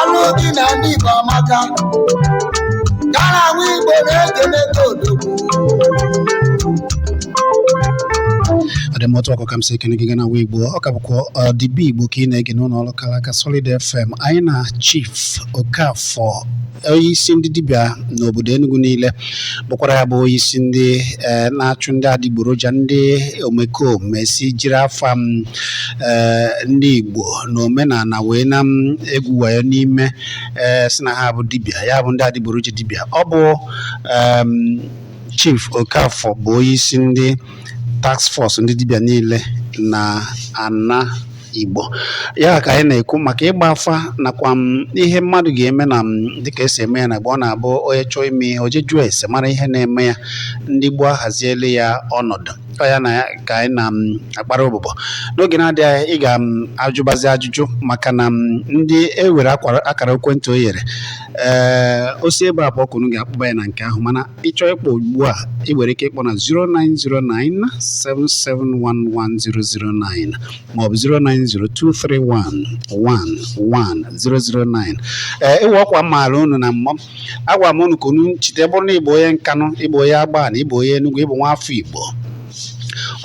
ọlụ gị na ndị Igbo amaka gara nwa Igbo na-ekene gị odogwu ọ dị m otu ọkụ ka m si ekene gị gana nwa Igbo ọ ka bụkwa ọdị be igbo ka ị na-ege n'ụlọ ọrụ kara aka solid fm anyị na chief okafọ onye isi ndị dibịa n'obodo enugu niile bụkwara ya bụ onye isi ndị eh, na-achụ ndị adịgboroja ndị omekome si jiri afa m ee ndị Igbo na omenala wee na m egwu wayo n'ime ee sị na ha bụ dibịa ya bụ ndị adịgboroja dibịa ọ bụ em, Chief Okafor bụ onye isi ndị task force ndị dibịa niile na ana Igbo ya ka anyị na-ekwu maka ịgba afa nakwa m ihe mmadụ ga-eme na m dịka esi eme ya na gboo ọ na-abụ onye chọọ ime ihe o je jụọ ese mara ihe na-eme ya ndị gboo ahaziele ya ọnọdụ ọ ya nwa ka anyị na-akpara ụbụbọ n'oge na-adịghị anya ị ga-ajụbazi ajụjụ maka na ndị e were akara ekwentị o yere ee o si ebe a pụọ ka unu ga-akpọba ya na nke ahụ mana ị chọọ ịkpọ ugbu a ị nwere ike ịkpọ na 09097711009 maọbụ 09023111009 ee e nwe ọkwa m maara unu na mbụ agwara m unu ka unu chete bụrụ na ị bụ onye nkanụ ị bụ onye agbanị ị bụ onye enugwu ị bụ nwa afọ igbo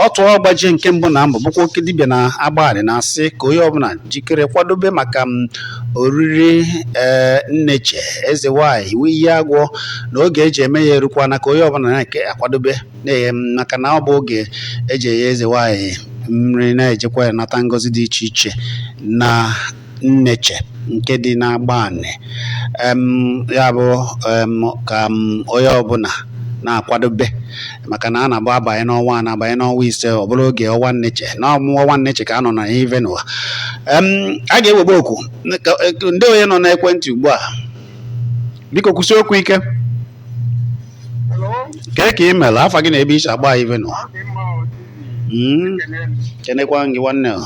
otu ọgbajie nke mbụ na mbụ bụkwa oke dibịa na agbanị na-asị ka onye ọbụla jikere kwadobe maka m oriri ee nneche eze nwanyị nwe iyi agwọ na oge eji eme ya erukwana ka onye ọbụla na-akwadobe maka na ọ bụ oge eji enye eze nwanyị nri na-ejekwa ya nata ngọzi dị iche iche na nneche nke dị n'agbanị em ya bụ em ka m onye ọbụla na-akwadobe maka na a na-abụ abanye n'ọnwa a na-abanye n'ọnwa ise ọ bụrụ oge ọnwa nneche na ọ bụ ọnwa nneche ka a nọ na ive n'ụwa em a ga-ewebe oku ka- ka- ndewo onye nọ n'ekwentị ugbu a biko kwusie okwu ike kee ka ị mere afa gị na ebe i si akpọ ive n'ụwa Mm, kenekwa gị nwanne o.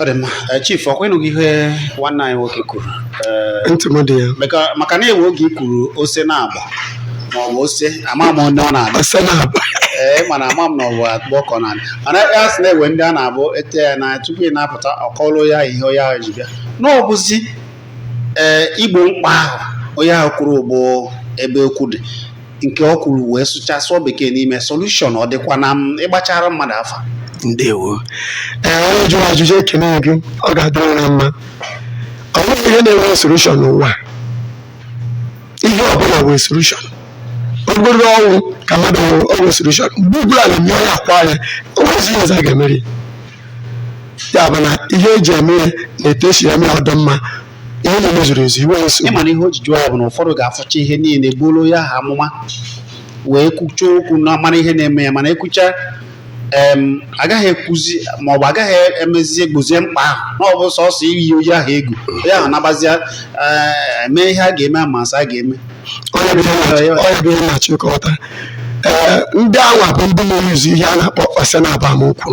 ọ dị mma Eh, chief ọ kwa ị nụgo ihe nwanne anyị nwoke kwuru Eh, ntị m dị ya maka- maka na e nwe oge i kwuru ose na-agba ma ọ bụ ose ama m onye ọ na-agba asa na-agba ee mana ama m na ọ bụ akpụ ọkọ na mana ya sị na e nwe ndị ọ na-abụ ete ya na tupu ị na-apụta ọ kọọlụ ya ihe onye ahụ ji bịa na ọ bụzi ee igbo mkpa ahụ onye ahụ kwuru bụ ebe okwu dị nke o kwuru wee sụcha sụọ bekee n'ime solution ọ dịkwa na m ịgbachara mmadụ afa ndewo ee onye jụrụ ajụjụ ekene m gị ọ ga-adịrị na mma o nweghị ihe na-enwe solution n'ụwa ihe ọbụla nwere solution ọ bụrụ ọnwụ ka mmadụ nwụrụ o nwere solution mgbe ugbula na mmiri onye akwa ya o nwezi ihe ọzọ a ga-emeri ya bụ na ihe eji eme ya na etu esi eme ya ọ dị mma Ihe niile zuru ezu, i nweghị nsogbu. Ị ma na ihe o ji jụọ ya bụ na ụfọdụ ga-afụcha ihe niile gbuoro ya ha amụma wee kwucha okwu na amara ihe na-eme ya mana ekwucha em agaghị ekwuzi maọbụ agaghị emezi egbozie mkpa ahụ na ọ bụ sọsọ iyi onye ahụ egwu onye ahụ nabazia ee, mee ihe a ga-eme ma asa a ga-eme Ọ ya bụ ihe na-achọ- ọ ya bụ ihe na-achọ ịkọwata. Ee, ndị anwa bụ ndị na-eyuzu ihe a na-akpọ ọsịnabamokwu.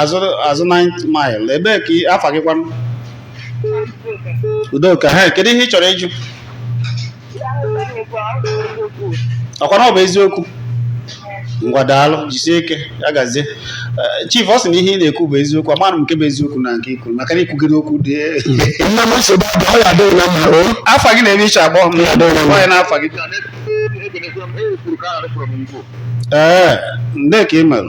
azụ azụ nine mile ebee ka ị- afa gị kwanụ Udoka he kedu ihe ị chọrọ ịjụ ọkwa na ọ bụ eziokwu ngwa daalụ jisie ike ya gazie Eh, chief ọ sị na ihe ị na-ekwu bụ eziokwu amaghị m nke bụ eziokwu na nke ikwu maka na i kwugide okwu dị nna m nsogbu abụ ọ ya adịghị na mma o afa gị na ebe i si akpọ m Ya dịrị mma. gwa anyị afa gị ee nne ka ị mere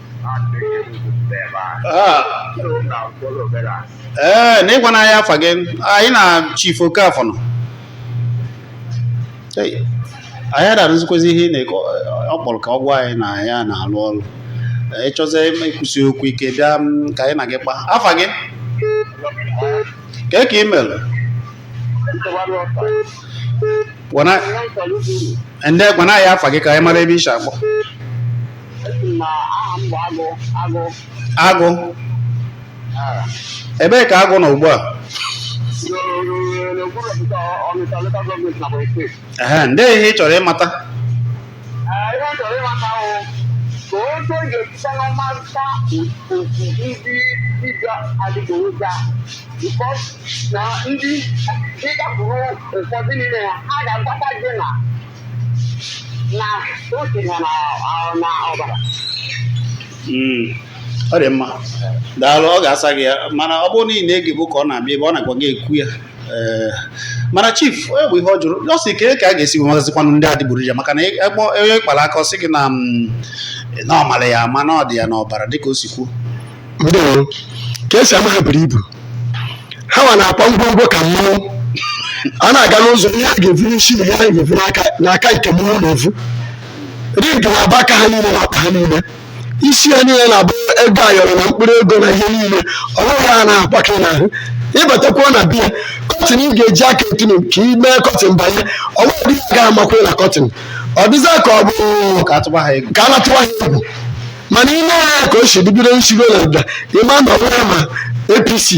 ee eh, na ịgwa anyị afa gị anyị na chief Okafor nọ anyị ada anụzikwazi ihe ị na-ekwu ọ kpọrọ ka ọ gwa anyị na ya na-alụ ọrụ eh, ị chọzie ikwusi okwu ike bịa mm, ka anyị na gị kpa afa gị kee ka ị mere gwa anyị afa gị ka anyị mara ebe i si akpọ agụ ebee ka agụ nọ ugbu a ehe ndị ihe ị chọrọ ịmata na otu na na ọ- na ọbara Mm. ọ dị mma daalụ ọ ga-asa gị ya mana ọ bụrụ na ị na-egebu ka ọ na-abịa ebe ọ na-agwa gị ekwu ya ee mana chief ọ ya bụ ihe ọ jụrụ ọ sị kee ka a ga-esi mazikwanụ ndị adịgboroja maka na ekpọ onye kpara aka ọ sị gị na mm, na ọ mara ya ama na ọ dị ya n'ọbara dịka o si kwuo ndewo ka esi ama ha buru ibu ha nwa na-akpa ngwongwo ka mmanwụ a na-aga n'ụzọ ihe a ga-evu n'isi na ihe a ga-evu n'aka n'aka nke mmanwụ na-evu ring na-aba aka ha niile na ọkpa ha niile isi ha niile na-abụ ego ayọrọ na mkpụrụ ego na ihe niile ọ bụ ihe ha na-akwakọ n'ahụ ịbatakwuo na be ya curtain ị ga-eji aka etinu ka ị mee curtain banye ọ bụ ihe ga amakwe na curtain ọ dịza ka ọ bụ ka a tụba ha egwu ka a na-atụwa ha egwu mana ile anya ka o si bido nsigo na nda ịma na ọbụla ma apc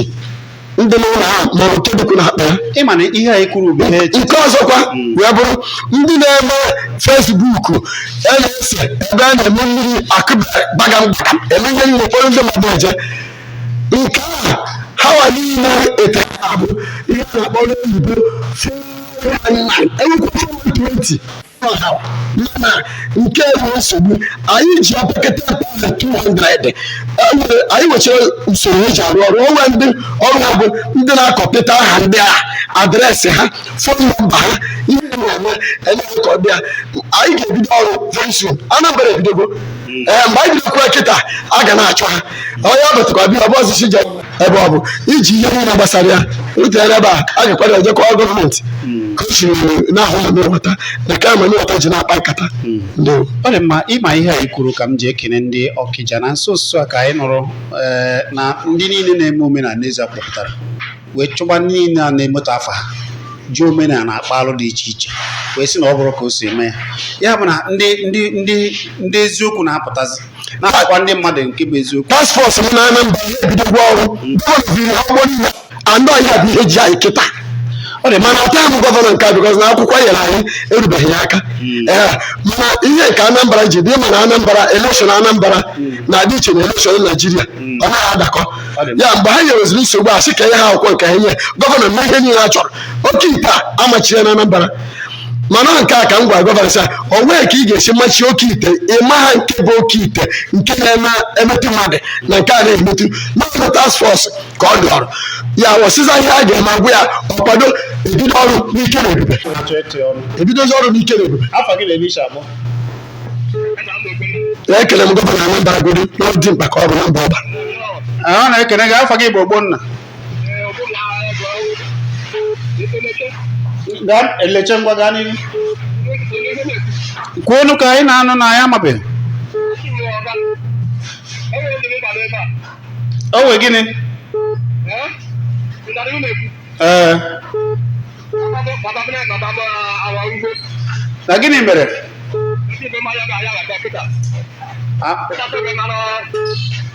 ndị n'ụlọ ha ma ọ nke dịkwu na akpa ya ị ma na ihe anyị kwuru bụ ihe echi nke ọzọkwa wee bụrụ ndị na-eme fesbuk a na-ese ebe a na-eme mmiri akụbagam eme ihe niile ụfọdụ ndị mmadụ eje nke a ha wa niile ete ha bụ ihe a na-akpọ n'oyibo 419 e nwekwa 420 ọha mana nke bụ nsogbu anyị ji opekata mpe 200 e nwere anyị nwechara usoro e ji arụ ọrụ o nwere ndị ọrụ ha bụ ndị na-akọpịta aha ndị a adreesị ha fon nọmba ha ihe ha na-eme emeghị ka ọ bịa anyị ga-ebido ọrụ very soon anambra ebidogo ee mgbe anyị bidokwa kịta a ga na-achọ ha onye ọ bụtụkwa bịa ọ bụ ọzọ si je ebe ọ bụ iji ihe niile gbasara ya wetara ebe a a ga-akwado ya je kọọ gọọmenti ka o siri na-ahụ na mmewata na ka ma mmewata ji na-akpa nkata ndewo ọ dị mma ịma ihe anyị kwuru ka m ji ekene ndị ọkịja na nso nso a ka anyị nụrụ ee, na ndị niile na-eme omenala eze kpọpụtara wee chụba ndị niile a na-emetọ afa ha ji omenala akpa alụ dị iche iche wee sị na ọ bụrụ ka o si eme ya ya bụ na ndị ndị ndị ndị eziokwu na-apụtazi na-agwa ndị mmadụ nke bụ eziokwu task force m na anambra ya ebidogwa ọrụ gọvanọ biri ha ụgbọ niile anọ ya bụ ihe ji anyị kịta ọ dị mana ọta bụ gọvanọ nke a bikọz na akwụkwọ nyere anyị erubeghị ya aka ee mana ihe nke anambra ji dị mana anambra elekshọn anambra na-adị iche na elekshọn naijiria ọ naghị adakọ ya mgbe ha nyeweziri nsogbu a sị ka e nye ha akwụkwọ nke ha nye gọvanọ mee ihe niile ha chọrọ oke ite a a machie ya na anambra mana nke a ka m gwara gọvanọ sị o nwee ka ị ga-esi machi oke ite ịma ha nke bụ oke ite nke na-emetụ mmadụ na nke a na-emetụ n'ọrụ task force ka ọ dị ọrụ ya ọsịza ihe a ga-eme a gwa ya ọ kwado e bido ọrụ n'ike na ebube na-achọ ịtụnye ọnụ ebidozi ọrụ n'ike na ebube afa gị na ebe i si akpọ ekele m gọvanọ Anambra Godi n'ọdị mkpa ka ọ bụ na mba ọba a na-ekene gị afa gị bụ ogbonna elechi ngwa gaa n'ihu kwuonụ ka anyị na-anụ na ya amabeghị o nwee gịnị ee na gịnị mere A-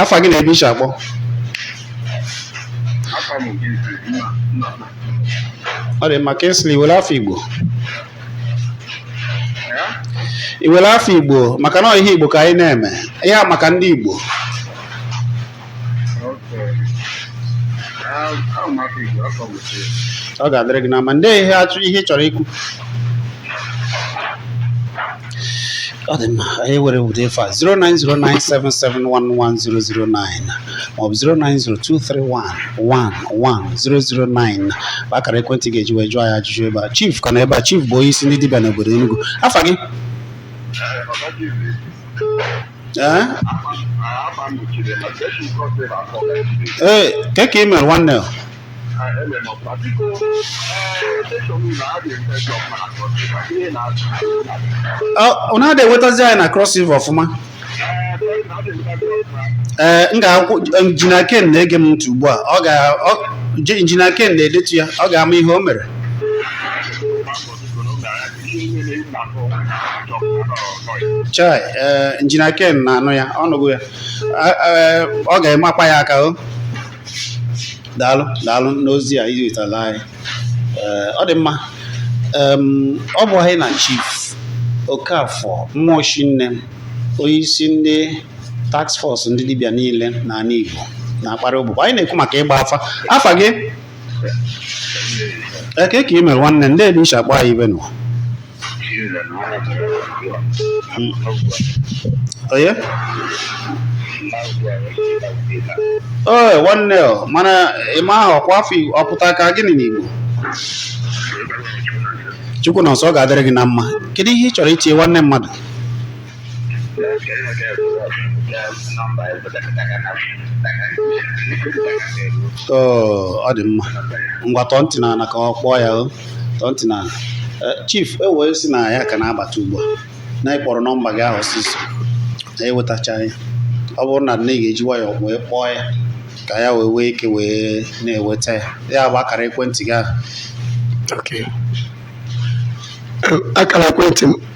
afa gị na ebe i si akpọ ọ dị mma kingsley i nwere afa igbo i nwere afa igbo maka na ihe igbo ka anyị na-eme ihe a maka ndị igbo ọ ga-adịrị gị na mma ndị ihe ị chọrọ ikwu ọ dị mma anyị were ụdị efe a 09097711009 maọbụ 09023111009 bụ akara ekwentị ga-eji wee jụọ anyị ajụjụ ebe a chief ka nọ ebe a chief bụ onye isi ndị dibịa n'obodo Enugu afa gị ee ee kee ka ị mere nwanne ele m ọkwa biko ọ na-adị enwetazi anyị na Cross River ọfụma ee m ga-agwa injinia Ken na-ege m ntị ugbu a ọ ga ọ- je- injinia Ken na-edetu ya ọ ga-ama ihe o mere chai ee injinia Ken na-anụ ya ọ nụgo ya A- ee, ọ ga-emakwa ya aka o daalụ daalụ n'ozi a i wetara anyị eh, ọ dị mma ọ bụ anyị na chief Okafọ Mmụọshinne onye isi ndị task force ndị dibịa niile n'ala Igbo na-akparị ụbụbọ anyị na-ekwu maka ịgba afa afa gị kee ka ị mere nwanne ndee ebe i si akpọ anyị ibe nọ onye ee nwanne ọ mana Emma ahụ ọkwa afa Igbo- ọ pụta ka gịnị n'Igbo Chukwunọnso ọ ga-adịrị gị na mma kedu ihe ị chọrọ itinye nwanne mmadụ ọ dị mma ngwa tọọ ntị n'ana ka ọ kpọọ ya tọọ ntị n'ana e, chief e wee sị na ya ka na-abata ugbu a na ị kpọrọ nọmba gị ahụ ọsịsọ na enwetacha ya ọ bụrụ na ị ga-eji nwayọọ wee kpọọ ya ka ya wee nwee ike wee na-enweta ya ya bụ akara ekwentị gị ahụ akara ekwentị m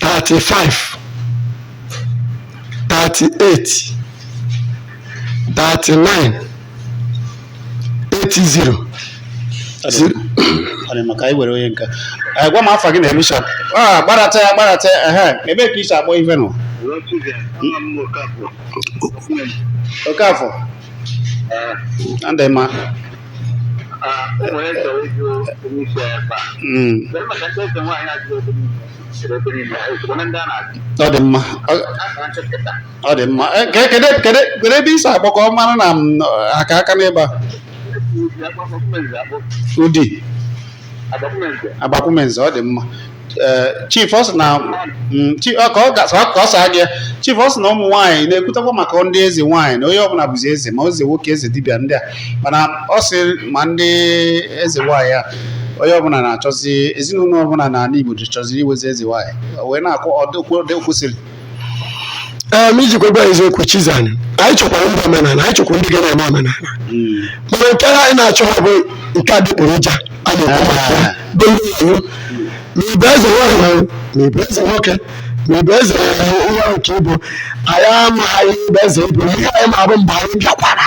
35 38 39 80 zero- Ọ dị mma ka anyị were onye nke a Eh, gwa m afa gị na emisha Ah, gbadata ya gbadata ya ehe ebee ka i si akpọ ife nọ Okafọ adị mma ọ dị mma ọ dị mma Eh, ke- kedu kedu kedu ebe i si akpọ ka ọ mara na m aka aka n'ebe a Udi agbakwumenze ọ dị mma ee chief ọ sị na mm, chi- ọ- ka ọ ga- ka ọ saa gị ya. chief ọ sị na ụmụ nwaanyị na-ekwutakwa maka ndị eze nwaanyị na onye ọbụla bụzi eze ma eze nwoke eze dibịa ndị a mana ọ sị ma ndị eze nwaanyị a onye ọbụla na-achọzi ezinụlọ ọbụla n'ala Igbo chọziri inwezi eze nwaanyị O wee na-ajụ ọ dị- o kwesịrị ee ma ijikwa gwa eziokwu chizani anyị chọkwara ndị omenala anyị chọkwara ndị ga na-eme omenala mana nke anyị na-achọhọ bụ nke adịgboroja a na-ekwu maka ya bụ ndị iwu ma ị bụ eze nwaanyị ma ị bụ eze nwoke ma ị bụ eze nwa nke ị bụ anyị amaghị ibe eze ị bụ ihe anyị ma bụ mgbe anyị bịakwara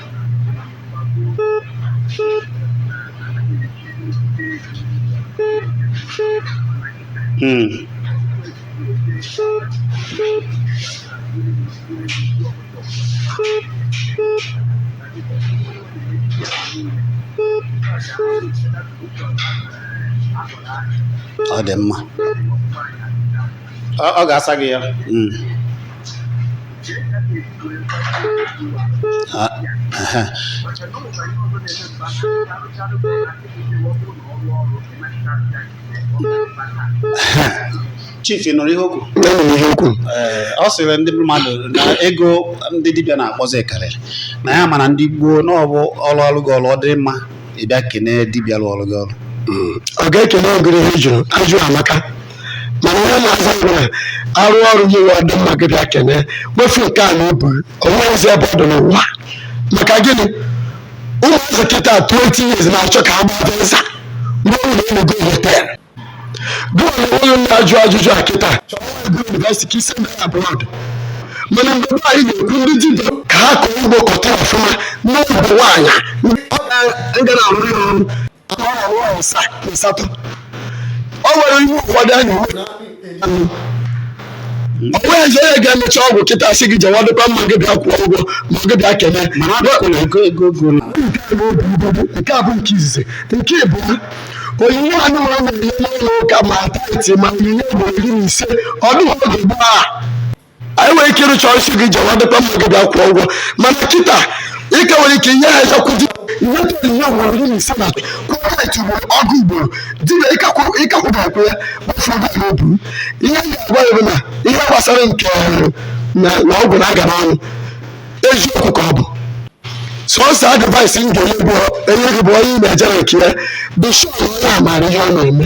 Mm. ọ dị mma ọ ọ ga-asa gị ya Mm. chief ị nụrụ ihe o kwu e nwere ihe o kwu ọ sịrị ndị mmadụ na ego ndị dibịa na-akpọzi karịrị na ya mana ndị gboo na ọ bụrụ a rụọrụ gị ọrụ ọ dị mma ị bịa kene dibịa rụọrụ gị ọrụ ọga ekele m gị ihe ị jụrụ ajụ amaka mana onye na-aza nwere a rụọ ọrụ gị nwa dị mma gị bịa kene wefu nke a n'obu onweghịzi ebe ọ dị n'ụwa maka gịnị ụmụazị kịta 20 years na-achọ ka ha gbaa Benz mgbe ọ bụla ịnụgo hotel gị nwa onye na-ajụ ajụjụ a kịta chọrọ ebe yunivesiti ka i si jee abroad mana mgbe be anyị na-ekwu ndị dibịa ka ha kọọ ugbo kọta ọfụma nụọ igwe nwaanyị ndị ọ ga na-arụ ọrụ o nwere ihe ụfọdụ a na-eme o nweghịzi onye ga-emecha ọgwụ kịta sị gị jewa dịkwa mma gị bịa kwụọ ụgwọ ma gị bịa kene nke a bụ nke izizi nke ịbụọ onyinye anụnwa unu na-enye n'ụlọ ụka ma tithe ma onyinye ugboro iri na ise ọ dịghị oge gboo anyị nwere ike ịrụcha ọrụ sị gị jewa dịkwa mma gị bịa kwụọ ụgwọ mana kịta ị ka nwere ike inye ha ezakwụdị ihe tụọ onyinye ugboro iri na ise na kwụ tithe ugboro ọgụ ugboro dibịa ịkakwụbakwụ ya gbafuo gị n'obu ihe m ga-agwa ya bụ na ihe gbasara nke na na ọgwụ na-agana ọnụ eziokwu ka ọ bụ sọsọ advice m ga-enye gị bụ onye ị na-eje na nke ya be sure na ọ maara ihe ọ na-eme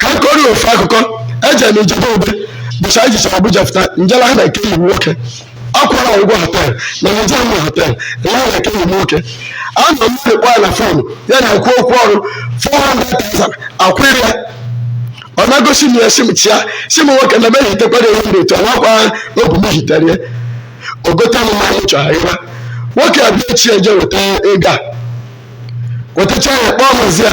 ka m kọrọ ofu akụkọ eje m ijebe obe bụcha anyị jechara abuja fụta njela ha na nke iwu nwoke akwara ụgwọ hotel na nje m hotel na na nke iwu nwoke a na m kpọ ya na fon ya na ekwu okwu ọrụ 400,000 a kwụrụ ya ọ na-egosi m ya si m chịa si m nwoke na meghị tekwara ewu m etu anakwa n'obu m hitere ya o gote m mmanụ chọrọ ịra nwoke a bịa sị ya je weta ego a wetacha ya kpọọ mazi ya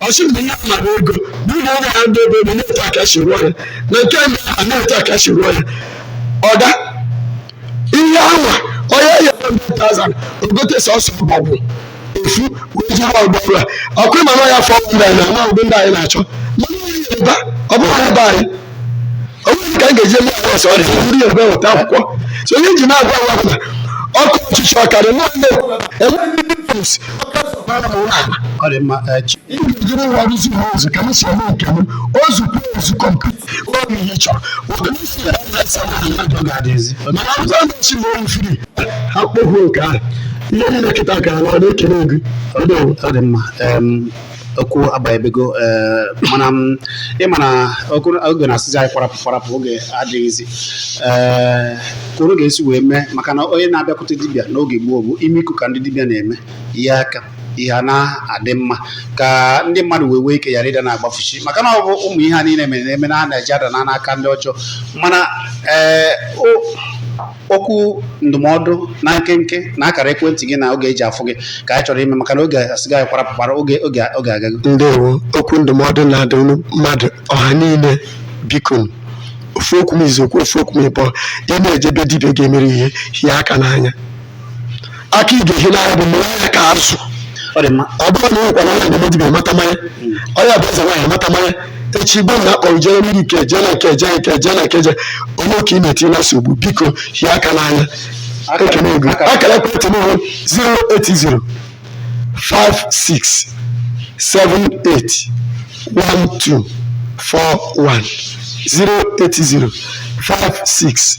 ọ sị mgbe ya mara ego na ụlọ ọrụ ya ndị ebe ebe na-etu aka si rụọ ya na nke ndị a na-etu aka si rụọ ya ọda ihe anwa o nye ya 100,000 o gote sọsọ ọbọgwụ efu wee jiri ọgbọ ọbụla ọkụ ịma na ya fọ ndị anyị na-ama ụdị ndị anyị na-achọ mana onye Yoruba ọ bụghị ebe anyị ọ bụrụ ka m ga-eji eme ọgwụ ọsọ ọrịa ọ bụrụ ya ebe weta akwụkwọ so onye ji na-agwa agwa pụta ọkụ ọchịchị ọ karị nwanne enweghị ndị pụs ọ dị mma eh, chi- ị ga-ejiri nwa rụzi ha ụzọ ka m si eme nke m ozu kwuo ozu kọmputa ọ bụ ihe ị chọrọ ụdị m si ya na asa na ala ọ ga-adịzi mana ọzọ na-echi na oyi firi ha kpọhuo nke ahụ ihe niile kịta ka ala ọ na-ekele gị ọ dị ọ dị mma em, okwu abanyebego eh, mana ị ma na oge na-asịzi anyị kwarapụ kwarapụ oge adịghịzi ee ka unu ga-esi wee mee maka na onye na-abịakwute dibịa n'oge gboo bụ ime iku ka ndị dibịa na-eme ihe a ka ihe na-adị mma ka ndị mmadụ wee nwee ike ghara ịda na-agbafusi maka na ọ bụ ụmụ ihe a niile mere na-eme na a na-eji ada na n'aka ndị ọjọọ mana ee o okwu ndụmọdụ na nkenke na akara ekwentị gị na oge e ji afụ gị ka anyị chọrọ ime maka na oge asịga anyị kwarapụ kwara oge agago ndewo okwu ndụmọdụ na-adụ ụmụ mmadụ ọha niile biko nụ. ofu okwu m izu okwu ofu okwu m ịbọ ị na-eje be dibịa ga-emere ihe hie aka n'anya aka ị ga-ehi n'anya bụ mụrụ anya ka azụ ọ dị mma ọ bụrụ na ị nwekwara anya mgbe dibịa mata mmanya onye bụ eze nwaanyị mata mmanya echi igbe na a kpọrọ jere mmiri nke eje na nke eje nke eje na nke eje onwe ị ka ị na-etinye na nsogbu biko hie aka n'anya ekenego akara ekwentị m bụ 080 56 78 1241 080 56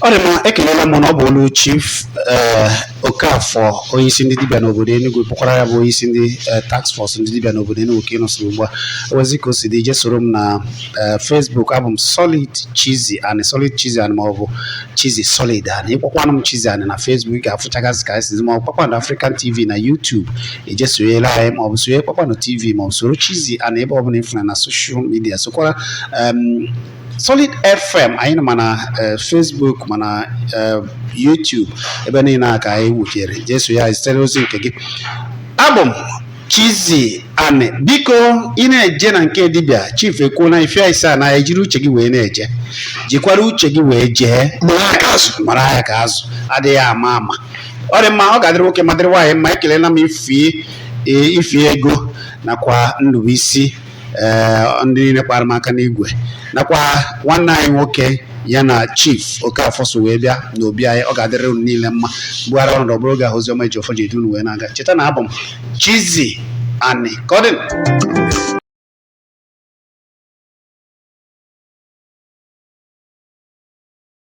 Ọ dị mma, ekelela m na ọ bụ olu Chief eh, Okafor onye isi ndị dibịa n'obodo Enugu bụkwara ya bụ onye isi ndị eh, task force ndị dibịa n'obodo Enugu ka ị nụsịrị ugbu a ewezi ka o si dị je soro m na eh, Facebook abụ m Solid Chizzy Ani Solid Chizzy Ani ma ọ bụ Chizzy Solid Ani ị kpọkwanụ m Chizzy Ani na Facebook ị ga-afụchagasị ka anyị si dị ma ọ bụ Kpakpando African TV na YouTube eje sonyela anyị ma ọ bụ sonye Kpakpando TV ma ọ bụ soro Chizzy Ani ebe ọ bụla ị fụna na social media sokwara em, Solid FM anyị nọ ma na eh, Facebook ma na eh, YouTube ebe niile a ka anyị wutere jesu ya zitere ozi nke gị abụ m Chizzy Ani biko ị na-eje na nke dibịa chief ekwuona ife sị na jiri uche gị wee na-eje jikwara uche gị wee jee mara ya ka azụ mara ya ka azụ adịghị ama ama ọ dị mma ọ ga-adịrị nwoke ma dịrị nwaanyị mma ekelela m Ify eh, Ify Ego nakwa Ndụbụisi ee ndị niile kpara m aka n'igwe nakwa nwanne anyị nwoke ya na chief Okafor so wee bịa n'obi anyị ọ ga-adịrị unu niile mma m gbugharịa ọnọdụ ọ bụrụ oge ahụ Oziọma Ejiọfọ ji edu unu wee na-aga cheta na abụ m Chizzy Ani ka ọ dị